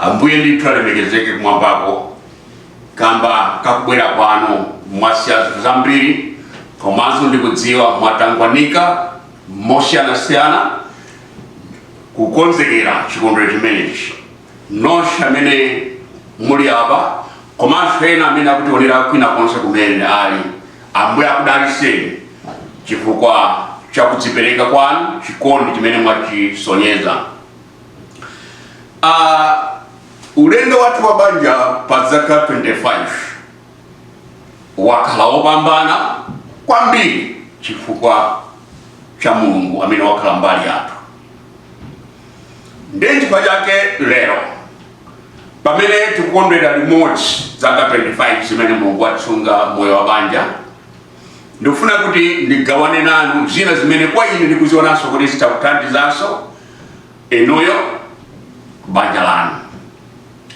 Ambuye ndithu alemekezeke kumwambako kamba kakubwera kwanu mwasiya zinthu zambiri komanso ndikudziwa mwatangwanika mosiyanasiyana kukonzekera chikondwerero chimenechi nonse amene muli apa komanso ena amene akutionera kwina konse kumene ali ambuye akudalitseni chifukwa cha kudzipereka kwanu chikondi chimene mwachisonyeza Uh, ulendo wathu wa banja pa zaka 25 wakhala wopambana kwambiri chifukwa cha mulungu amene wakhala mbali yathu ndi chifukwa chake lero pamene tikukondwera limodzi zaka 25 zimene mulungu watisunga moyo wa banja ndikufuna kuti ndigawane nanu zina zimene kwa ine ndikuzionanso kuti zitakuthandizanso inuyo banja lanu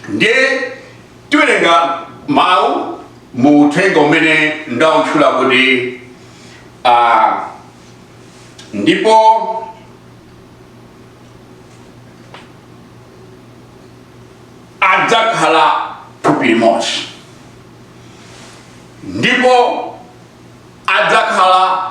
ndiye tiwerenga mawu mu uthenga umene ndautchula kuti ah, ndipo adzakhala thupi limodzi ndipo adzakhala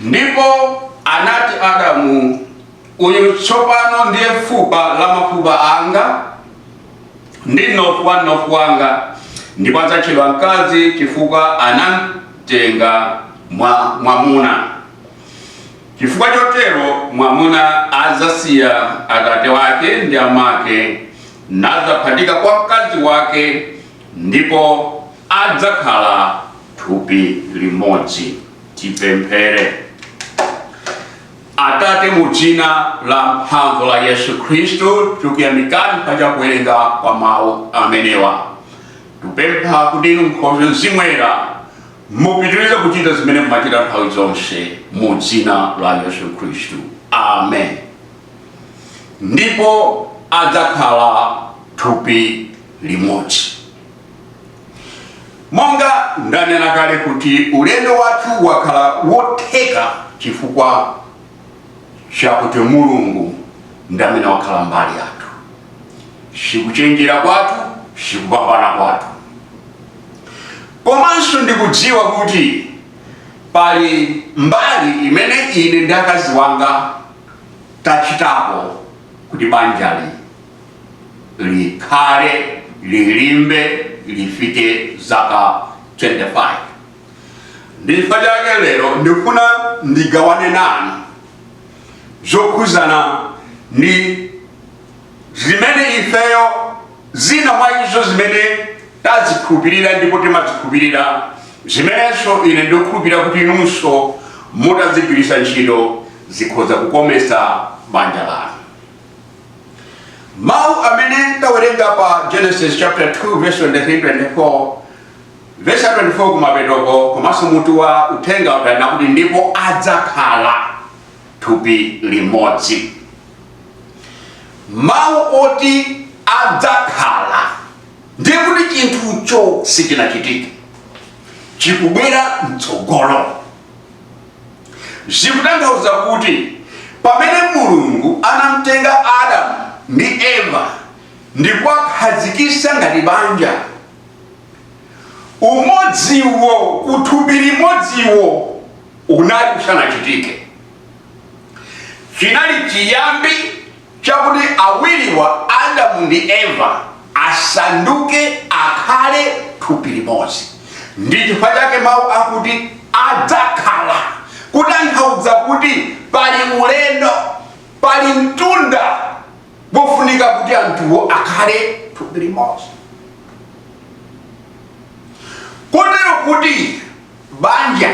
Ndipo anati Adamu, Uyu tsopano ndiye fupa la mafupa anga ndi mnofu wa mnofu wanga, ndipo adzatchedwa mkazi chifukwa anamtenga mwa mwamuna. Chifukwa chotero mwamuna adzasiya atate wake ndi amake nadzaphatika kwa mkazi wake, ndipo adzakhala thupi limodzi. Tipemphere. Atate, mu dzina la mphamvu la Yesu Khristu, tikuyamikani pa cha kuwerenga kwa mawu amenewa. Tikupempha kuti inu Nkhoswe Mzimu Woyera mupitirize kuchita zimene mumachita nthawi zonse mu dzina la Yesu Khristu. Amen. Ndipo adzakhala thupi limodzi. Monga ndanena kale kuti ulendo wathu wakhala wotheka chifukwa chakuti Mulungu ndi amene wakhala mbali yathu, sikuchenjera kwathu, sikupambana kwathu. Komanso ndikudziwa kuti pali mbali imene ine ndi akazi anga tachitapo kuti banjali likhale lilimbe lifike zaka 25 ndi chifukwa chake lero ndikufuna ndigawane nanu zokhuzana ndi zimene ifeyo zina mwa izo zimene tazikhulupirira ndipo timazikhulupirira zimenenso ine ndikukhulupirira kuti inunso mutazigwiritsa ntchito zikhoza kukomesa banja lanu mawu amene tawerenga pa genesis chapter 2 verse 23 24 verse 24 kumapetoko komanso mutu wa uthenga ukunena kuti ndipo adzakhala thupi limodzi mawu oti adzakhala ndiye kuti chinthucho sichinachitike chikubwera mtsogolo zikutanthauza kuti pamene mulungu anamtenga adamu ndi eva ndi kuwakhazikisa ngati banja umodziwo uthupi limodziwo unali usanachitike chinali chiyambi chakuti awiriwa, Adamu ndi Eva, asanduke, akhale, thupi limodzi. Ndi chifukwa chake mawu akuti adzakhala kutanthauza kuti pali ulendo, pali mtunda wofunika kuti anthuwo akhale thupi limodzi. Kotero kuti banja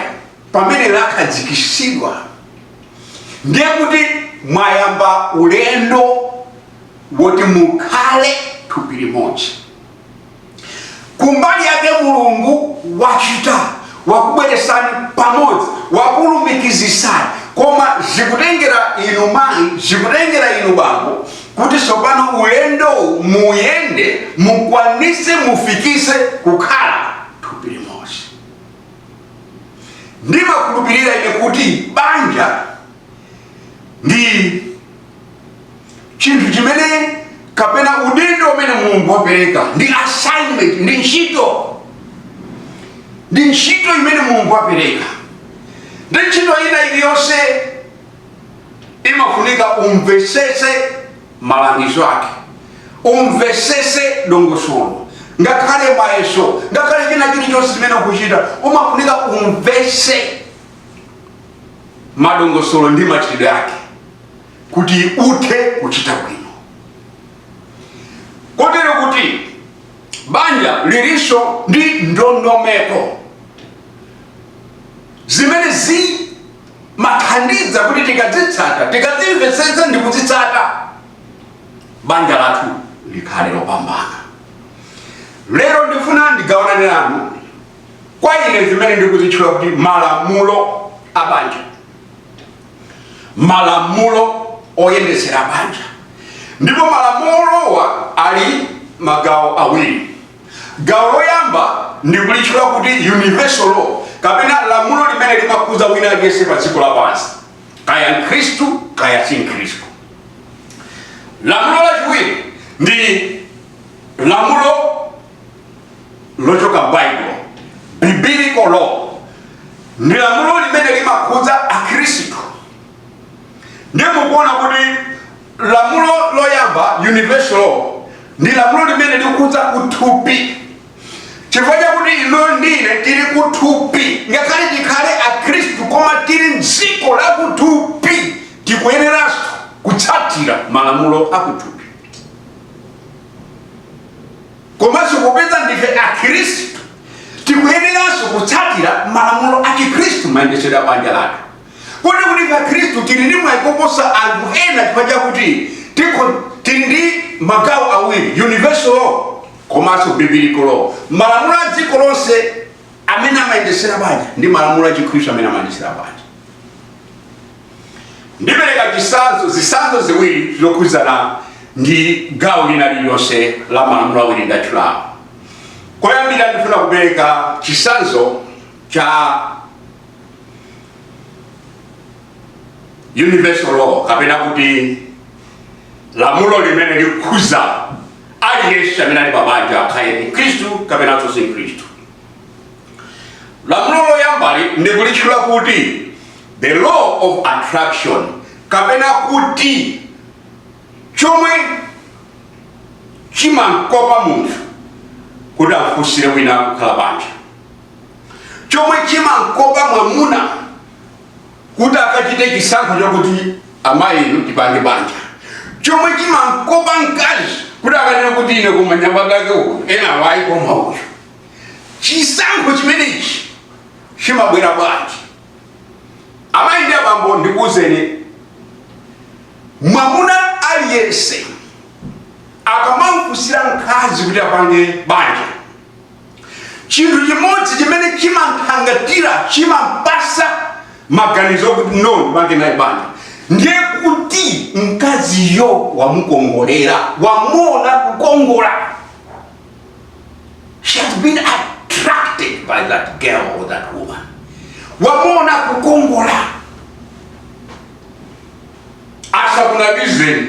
pamene lakhazikitsidwa. ndiye kuti mwayamba ulendo woti mukhale thupi limodzi kumbali yake mulungu wachita wakubweresani pamodzi wakulumikizisani koma zikutengera inu mayi zikutengera inu bambo kuti tsopano ulendowu muyende mukwanise mufikise kukhala thupi limodzi ndimakhulupirira ine kuti banja ndi chinthu chimene kapena udindo umene mulungu wapereka ndi assignment ndi ntchito ndi ntchito imene mulungu wapereka ndi ntchito ina iliyonse imafunika umvesese malangizo ake umvesese dongosolo ngakhale mayeso ngakhale china chilichonse chimene ukuchita umafunika umvese madongosolo ndi machitidwe ake kuti uthe kuchita bwino kotero kuti banja lilinso ndi ndondomeko zimene zi zimathandiza kuti tikadzitsata tikadzimvetsetsa ndi kudzitsata banja lathu likhale lopambana lero ndifuna ndigawanane nanu kwa ine zimene ndikuzitchula kuti malamulo a banja malamulo oyendetsera banja ndipo malamulowa ali magawo awiri Gawo loyamba ndikulitchula kuti universal law kapena lamulo limene limakhudza wina aliyense pa dziko lapansi, kaya Mkhristu kaya si Mkhristu. Lamulo lachiwiri ndi lamulo lochoka m'Baibulo, biblical law, ndi lamulo limene limakhudza Akhristu ndiye mukuona kuti lamulo loyamba universal law ndi lamulo limene likudza kuthupi chifukwa chakuti inu ndi ine tili kuthupi ngakhale tikhale akhristu koma tili mdziko la kuthupi tikuyeneranso kutsatira malamulo a kuthupi komanso popeza ndife akhristu tikuyeneranso kutsatira malamulo a chikhristu mayendetsedwe a banja lathu kuti kuti Akhristu tili ndi mwayi koposa anthu ena chifukwa chakuti tikho- tili ndi magawo awiri universal law komanso biblical law malamulo a dziko lonse amene amayendetsera banja ndi malamulo a chikhristu amene amayendetsera banja ndipereka chitsanzo zitsanzo ziwiri zokhudzana ndi gawo lina lililonse la malamulo awiri ndatchulawo koyambira ndifuna kupereka chitsanzo cha universal law kapena kuti lamulo limene likukhudza aliyense amene ali pabanja kaya ndi mkhristu kapena si mkhristu lamulo loyambali ndikulitchula kuti the law of attraction kapena kuti chomwe chimamkopa munthu kuti afunsire wina kukhala banja chomwe chimankopa mwamuna kuti akachite chisankho chakuti amayi inu tipange banja chomwe chimankopa mkazi kuti akanene kuti ine kwa anyamata ake awa ena awa ayi koma uyu chisankho chimenechi chimabwera bwanji amayi ndi abambo ndikuwuzeni mwamuna aliyense akamamfunsira mkazi kuti apange banja chinthu chimodzi chimene chimamthangata chimampasa maganizo kuti no ndipange naye banja ndiye kuti mkaziyo wamukongolera wamuona kukongola she has been attracted by that girl or that woman wamuona kukongola asakunamizeni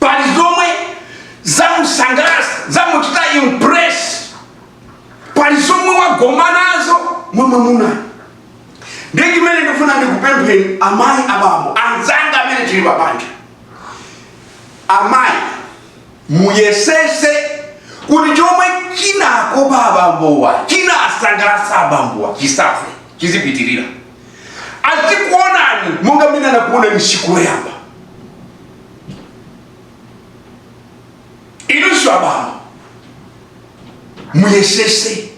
pali zomwe zamusangalatsa zamuchita impress pali zomwe wagoma nazo mwa mwamunayo ndi chimene ndifuna ndikupempheni amayi abambo anzanga amene tili pabanja amayi muyesese kuti chomwe chinakopa abambowa chinasangalatsa abambowa chisafe chizipitirira azikuonani monga mmene anakuonerani tsiku loyamba inunso abambo muyesese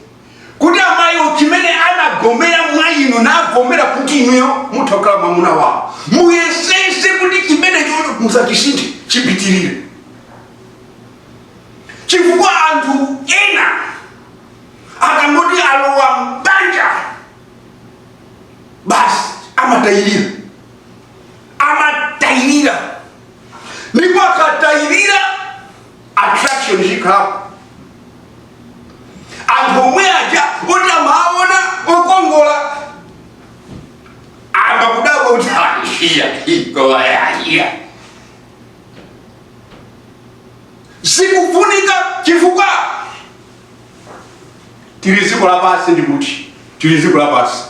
kuti amayiwo chimene anagomera mwa inu anagomera kuti inuyo mutha kukhala mwamuna wawo muyesese kuti chimenecho musachisinthe chipitirire chifukwa anthu ena akangoti alowa mbanja basi amatayirira amatayirira ndipo akatayirira attraction sikhalapo anthu omwe aja oti amaona okongola amayamba kudabwa kuti aishiya ikoayaiya sikufunika chifukwa tili dziko lapansi ndi kuti tili dziko lapansi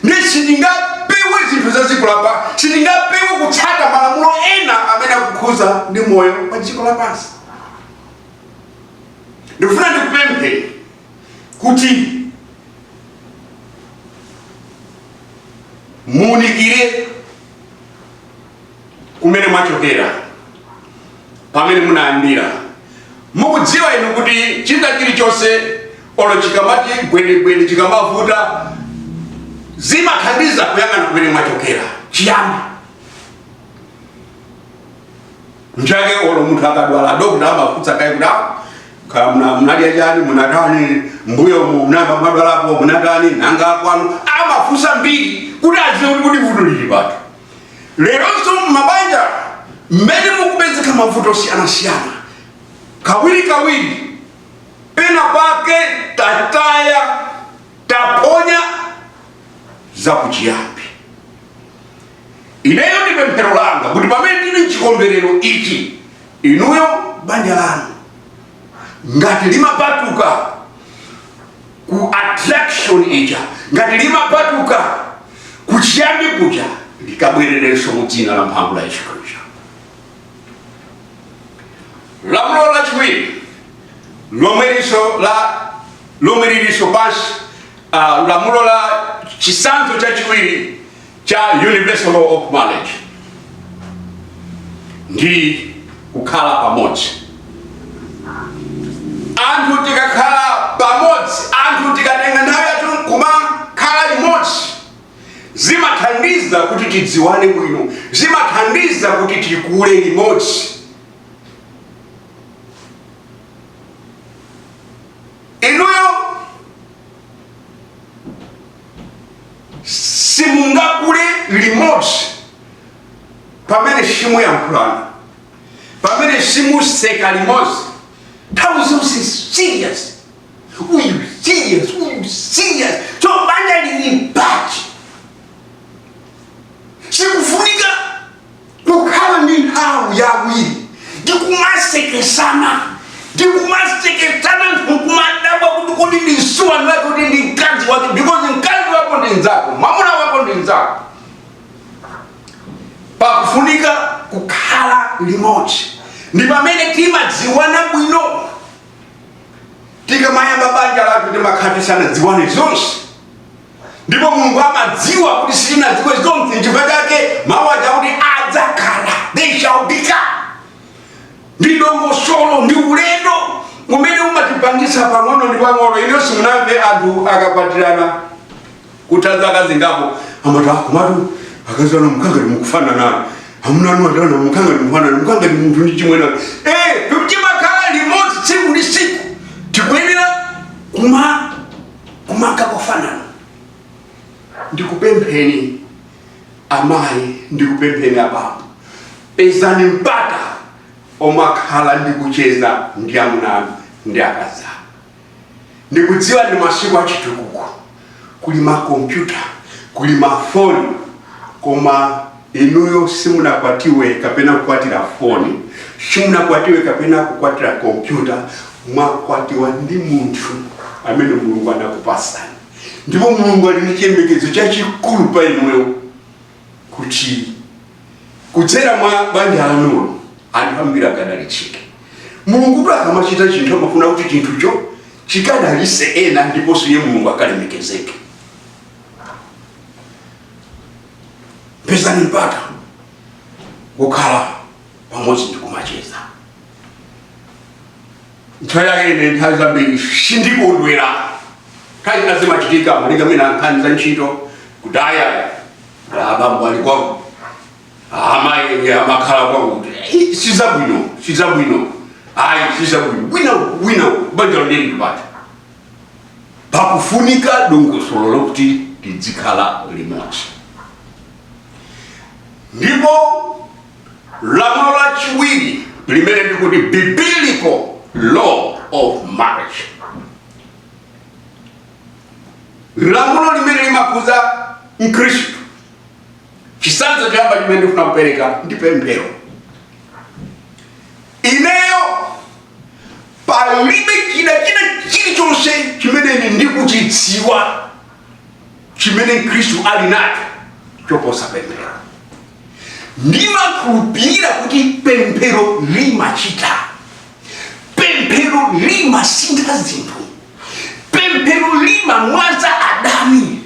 ndi sitingapewe zinthu za dziko lapansi sitingapewe kutsata malamulo ena amene akukhuza ndi moyo wa pa dziko lapansi ndifuna ndikupempheni kuti muunikire kumene mwachokera pamene munayambira mukudziwa inu kuti china chilichonse olo chikamati gwedegwede chikamavuta zimathandiza kuyang'ana kumene mwachokera chiyambi nchake olo munthu akadwala adokota amafunsa kaye kuti "Ah, kaya muna- munadya chani munatani mbuyomu munayamba mwadwalapo munatani nanga kwanu amafunsa mbiri kuti aziwe kuti vuto lili pati leronso m'mabanja mmene mukupezeka mavuto osiyanasiyana kawirikawiri pena pake tataya taponya zakuchiyambi ineyo ndi pemphero langa kuti pamene tili m'chikondwerero ichi inuyo banja lanu ngati limapatuka ku attraction ija ngati limapatuka kuchiyambi kuja likabwererenso mu dzina la mphamvu la yesu khristu lamulo lachiwiri lomwerinso la lomwe lilinso pansi ah, lamulo la chisanzo chachiwiri cha universal law of marriage ndi kukhala pamodzi anthu tikakhala pamodzi anthu tikatenga nthawi yathu nkumakhala limodzi zimathandiza kuti tidziwane bwino zimathandiza kuti tikule limodzi inuyo simungakule limodzi pamene simuyankhulana pamene simuseka limodzi nthawi zonse serious uyu serious uyu serious so banja lili pati tikufunika kukhala ndi nthawi ya awiri ndi kumasekesana ndi kumasekesana anthu kumadabwa kuti kodi ndi msuwa nake kuti ndi mkazi wake because mkazi wako ndi mzako mwamuna wako ndi mzako pakufunika kukhala limodzi ndi pamene timadziwana bwino tikamayamba banja lathu timakhala tisanadziwane zonse ndipo mulungu amadziwa kuti sitinadziwe zonse chifukwa chake mawu aja kuti adzakhala they shall become ndi dongosolo ndi ulendo umene umatipangisa pang'ono ndi pang'ono inu simunamve anthu akakwatirana kutha zaka zingapo amati ah komatu akazi anu mukangati mukufananana amuna anu adana mukangati mukufanana mukangati munthu ndi chimwene eh timakhala limodzi tsiku ndi tsiku tikuyenera kuma kumaka kufanana ndikupempheni amayi ndikupempheni abambo pezani mpata omakhala ndi kucheza ndi amuna anu ndi akazi anu ndikudziwa ndi masiku achitukuko kuli makompyuta kuli mafoni koma Inuyo simunakwatiwe kapena kukwatira foni, simunakwatiwe kapena kukwatira kompyuta. Mwakwatiwa ndi munthu amene Mulungu anakupatsani, ndipo Mulungu ali ndi chiyembekezo chachikulu pa inuyo kuti kudzera mwa banja lanulo anthu ambiri akadalitsike. Mulungutu akamachita chinthu amafuna kuti chinthucho chikadalitse ena ndiponso iye Mulungu akalemekezeke. pezani mpata wokhala pamodzi ndi kumacheza nthawi yake ine nthawi zambiri sindikondwera nthawi zina zimachitika malinga mwina nkhani za ntchito kuti aya abambo ali kwao amayi amakhala kwao kuti "Ih, si zabwino si zabwino ayi si zabwino bwinobwino banjalo ndi mpata pakufunika dongosolo lokuti tidzikhala limodzi ndipo lamulo lachiwiri limene ndikuti biblical law of marriage lamulo limene limakhudza mkhristu chitsanzo choyamba chimene ndifuna kupereka ndi pemphero ineyo palibe chida china chilichonse chimene ndikuchidziwa chimene mkhristu ali nacho choposa pemphero ndimakhulupirira kuti pemphero limachita pemphero limasintha zinthu pemphero limamwaza adani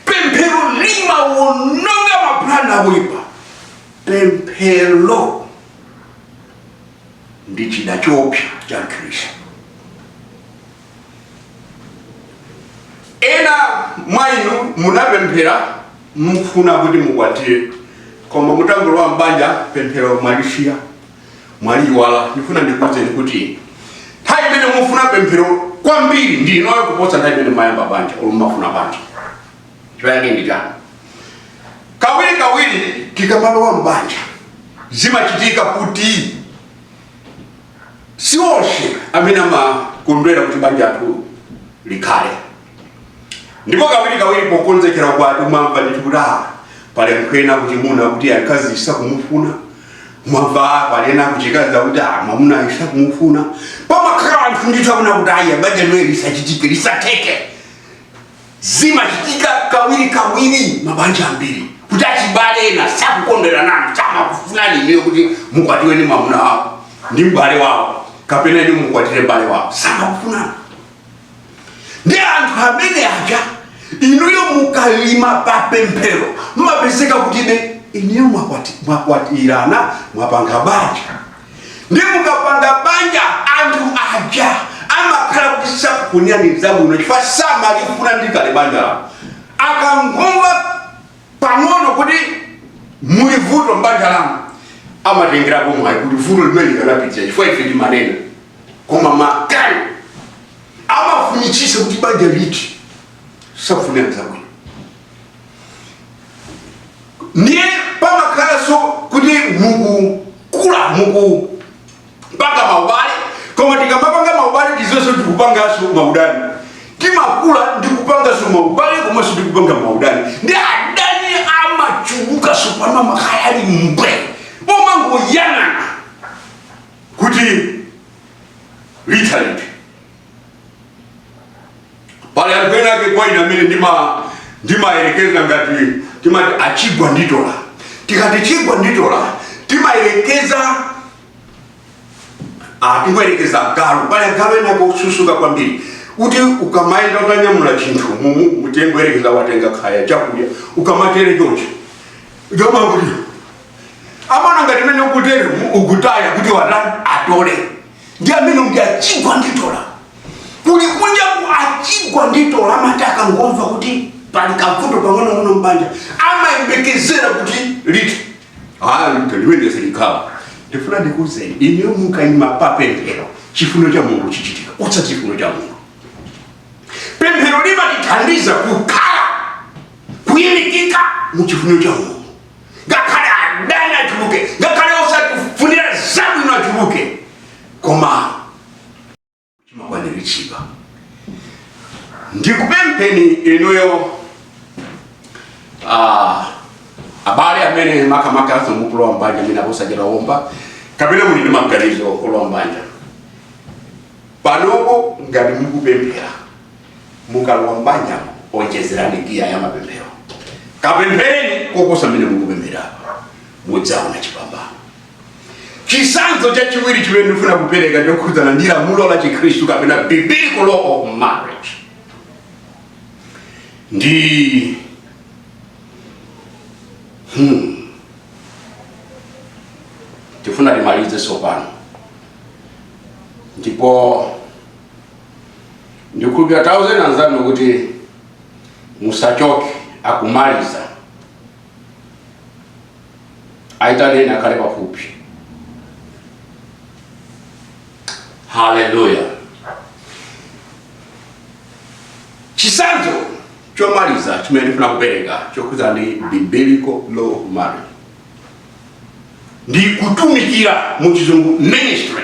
pemphero limawononga mapulani oipa pemphero ndi chida choopsa cha mkhristu ena mwa inu munapemphera mufuna kuti mukwatire koma mutangolowa m'banja pemphero mwalisiya mwaliyiwala ndifuna ndikuwuzeni kuti nthawi imene mufuna pemphero kwambiri ndi inoyo kuposa nthawi imene mumayamba banja olo mumafuna banja chifukwa ndi chani kawiri kawiri tikamalowa mbanja zimachitika kuti si onse amene amakondwera kuti banja lathu likhale ndipo kawiri kawiri pokonzekera ukwati umamva ndithu kuti ah pali anthu ena kuchimuna akuti akazi sakumufuna umamva ah, pali ena kuchikazi akuti ah mwamuna sakumufuna pamakhala anthu ndithu akufuna kuti ayi banja ili lisachitike lisatheke Zimachitika kawirikawiri mabanja ambiri kuti achibale ena sakukondwera nanu, samakufunani inuyo kuti mukwatiwe ndi mwamuna wawo ndi m'bale wawo kapena ndi mukwatire m'bale wawo, samakufunani ndi anthu amene aja. inuyo mukalima papemphero mumapezeka kuti be inuyo mwakwati- mwakwatirana mwapanga banja ndi mukapanga banja anthu aja amakhala kuti sakukufunirani zabwino chifukwa samalifuna ndi kale banja lawo akangomva pang'ono kuti muli vuto mbanja lanu amatengerapo mwayi kuti vuto limene likanapitirira chifukwa ife timanena koma makani amafunitsisa kuti banja lithe sakufunira zabwino ndiye pamakhalanso kuti mukukula mukupanga maubale koma tikamapanga maubale tidziwenso tikupanganso maudani timakula ndikupanganso maubale komanso tikupanga maudani ndi adani amachuluka tsopano amakhala ali mbwe omangoyang'ana kuti litha liti pali anthu ena ake kwa ine amene ndima- ndimayerekeza ngati timati achigwa nditola tikati chigwa nditola timayerekeza Ah, timayerekeza agalu pali agalu ena osusuka kwambiri kuti ukamayenda utanyamula chinthu mumu mutangoyerekeza watenga kaya chakudya ukamatere chonchi iwo amakhala kuti amaona ngati mene ukutero ukutaya kuti watani atole ndi amene uja achigwa nditola kuli kunja ku achigwa nditola amati akangomva kuti pali kavuto pang'onong'ono mbanja amayembekezera kuti lithe ah lithe limene silikhala ndifuna ndikuuzeni inuyo mukayima pa pemphero chifuniro cha mulungu chichitika utsa chifuniro cha mulungu pemphero limatithandiza kukhala kuyimikika mu chifuniro cha mulungu ngakhale adani achuluke ngakhale osatifunira zabwino achuluke koma chimakwaniritsidwa ndikupempheni inuyo ah, abale amene makamakanso mukulowa mbanja amene akusatira omwe kapena muli ndi maganizo okulowa mbanja panopo ngati mukupemphera mukalowa m'banja onjezerani giya ya mapemphero kapemphereni koposa mmene mukupemphera mudzaona chipambano chitsanzo chachiwiri chimene ndifuna kupereka ndikukhudzana ndi lamulo la chikhristu kapena biblical law of marriage ndi hmm. tifuna timalize tsopano ndipo ndikhulupira tawauzani anzanu kuti musachoke akumaliza aitaneni akhale pafupi haleluya chitsanzo chomaliza chimene ndifuna kupereka chokhudzana ndi biblical law of marriage ndi kutumikira mu chizungu ministry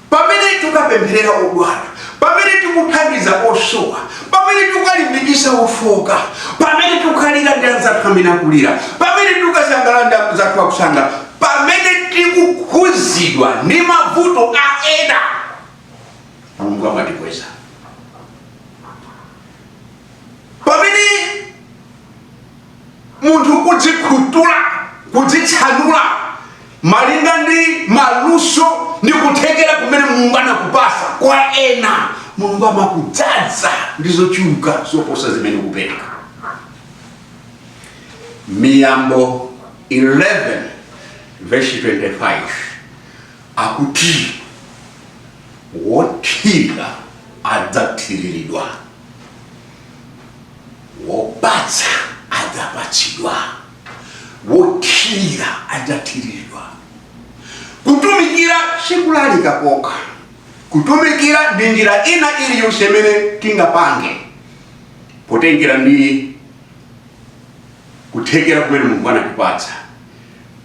Pamene tikapempherera odwala, pamene tikuthandiza osowa, pamene tikalimbikitsa ofooka, pamene tikalira ndi anzathu amene akulira, pamene tikasangalala ndi amzathu akusangala, pamene tikukhuzidwa ndi mavuto a ena, Mulungu amatikweza. Pamene. munthu kudzikhutula kudzitsanula malinga ndi maluso ndi kuthekera kumene mulungu anakupatsa kwa ena mulungu amakudzadza ndi zochuluka zoposa zimene ukupereka miyambo 11 verse 25 akuti wothirira adzathiriridwa Wopatsa adzapatsidwa, wothirira adzathiriridwa. Kutumikira si kulalika kokha. Kutumikira ndi njira ina iliyonse imene tingapange potengera ndi kuthekera kumene Mulungu anatipatsa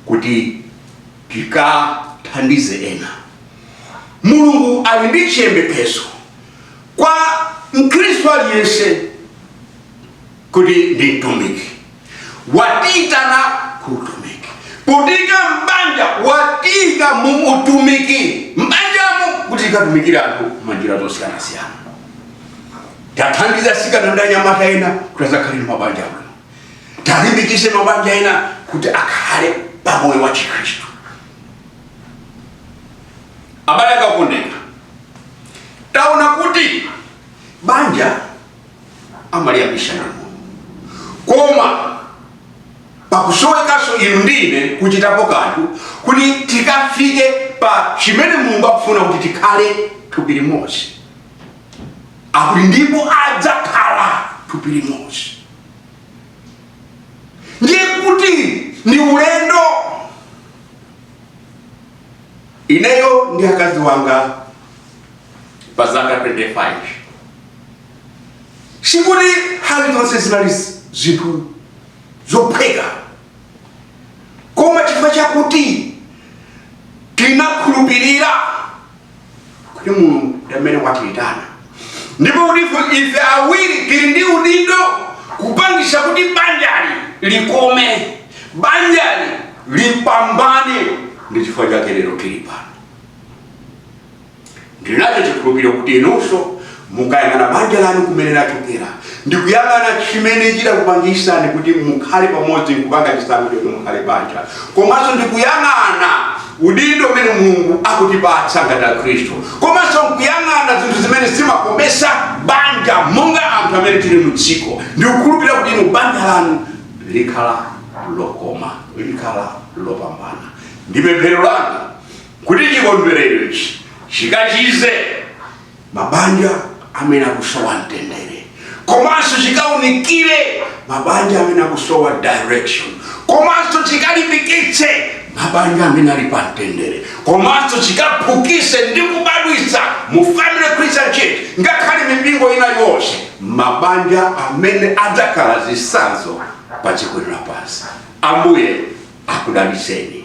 kuti tikathandize ena. Mulungu ali ndi chiyembekezo Kwa Mkhristu aliyense kuti ndi mtumiki, watiitana ku utumiki. Potiika m'banja, watiika mu utumiki m'banjamo kuti tikatumikire anthu mwanjira zosiyanasiyana. Tathandiza atsikana ndi anyamata ena kuti adzakhale ndi mabanja abwino. Talimbikitsa mabanja ena kuti akhale pa moyo wa Chikhristu. abale okondeka taona kuti banja amaliyambitsa Mulungu koma pakusowekaso inu ndi ine kuchitapo kanthu kuti tikafike pa chimene mulungu akufuna kuti tikhale thupi limodzi akuti ndipo adzakhala thupi limodzi ndiye kuti ndi ulendo ineyo ndi akazi anga pa zaka 25 sikuti kuti zonse zinali zinthu zophweka koma chifukwa chakuti tinakhulupirira kuti mulungu ndi amene watiyitana ndipo kuti ife- ife awiri tili ndi udindo kupangisa kuti banjali likome banjali lipambane ndi chifukwa chake lero tili pano ndinacho chikhulupiriro kuti inunso Mukayang'ana banja lanu kumene lachokera, ndi kuyang'ana chimene chidakupangitsani kuti mukhale pamodzi nkupanga chisankho choti mukhale banja, komanso ndi kuyang'ana udindo umene Mulungu akutipatsa ngati Akhristu, komanso nkuyang'ana zinthu zimene zimakometsa banja monga anthu amene tili mu dziko, ndikukhulupirira kuti inu banja lanu likhala lokoma, likhala lopambana. Ndi pemphero langa kuti chikondwerero ichi chikachize. mabanja amene akusowa mtendere komanso chikaunikire mabanja amene akusowa direction komanso chikalimbikitse mabanja amene ali pa mtendere komanso chikaphukise ndi kubadwisa mu family christian church ngakhale mipingo ina yonse mabanja amene adzakhala zisanzo pa dziko lapansi ambuye akudaliseni